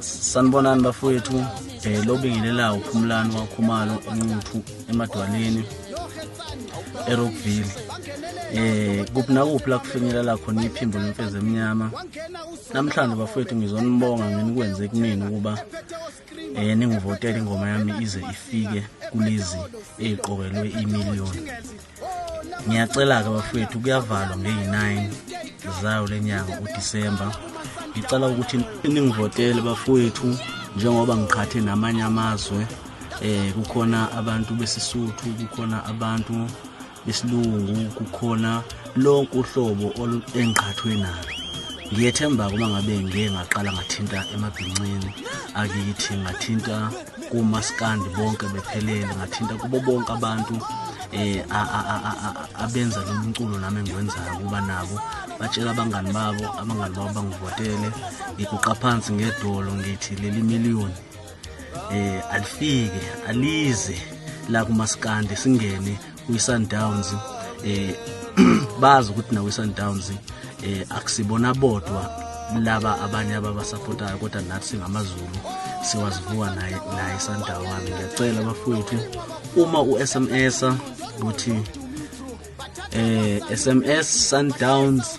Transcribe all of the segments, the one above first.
Sanibonani bafowethu um eh, lobingelelayo uphumulani wakhumalo enquthu emadwaleni erockville um eh, kuphi nakuphi la kufinyelela khona iphimbo lemfezi emnyama namhlanje bafowethu ngizonibonga ngenikwenze kumina ukuba um eh, ningivotele ingoma yami ize ifike kulezi eyiqokelwe imiliyoni ngiyacela-ke bafowethu kuyavalwa ngeyi-9 zayo le nyanga udisemba ngicela ukuthi ningivotele bafowethu njengoba ngiqhathe namanye amazwe eh kukhona abantu besisuthu kukhona abantu besilungu kukhona lonke uhlobo engiqhathwe nalo ngiyethemba-ke uma ngabe ngiye ngaqala ngathinta emabhincini akithi ngathinta kumaskandi bonke bephelele ngathinta kubo bonke abantu eh abenza lo mculo nami engiwenzayo kuba nabo batshela abangani babo abangani babo bangivotele ngiguqa phansi ngedolo ngithi leli million eh alifike alize la kumaskandi singene kwiSundowns eh bazi ukuthi nawo iSundowns eh akusibona bodwa laba abanye ababasapotayo kodwa nathi singamazulu siwazivuka naye naye iSundowns ngiyacela bafowethu uma uSMS ukuthi eh SMS Sundowns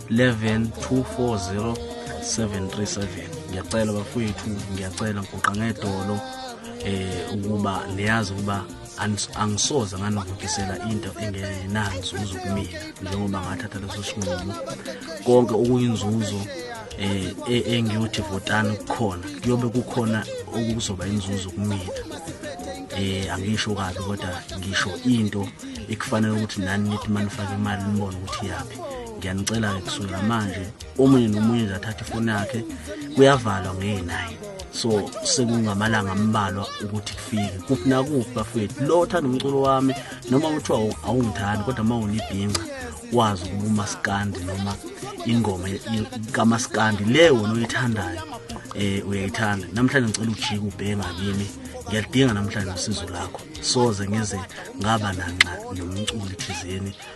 11 240 737 ngiyacela bafowethu ngiyacela ngigoqa ngedolo eh ukuba niyazi ukuba angisoze nganivukisela into engenanzuzo kumina njengoba ngathatha leso sinqumo konke okuyinzuzo eh e-, engiyothi votani kukhona kuyobe kukhona okuzoba inzuzo kumina eh angisho kabi kodwa ngisho into ekufanele ukuthi nani nithi manifaka imali nibone ukuthi yaphi ngiyanicela-ke kusukela manje omunye nomunye nje athathe ifoni yakhe kuyavalwa ngeyi-nine so sekungamalanga ambalwa ukuthi kufike kuphi nakuphi bafowethu lo othanda umculo wami noma kuthiwa awungithandi kodwa uma unibhinca wazi ukuba umasikandi noma ingoma kamasikandi le wona oyithandayo um uyayithanda namhlanje ngicela ujike ubhema kimi ngiyalidinga namhlanje usizo lakho soze ngize ngaba nanxa nomculi thizeni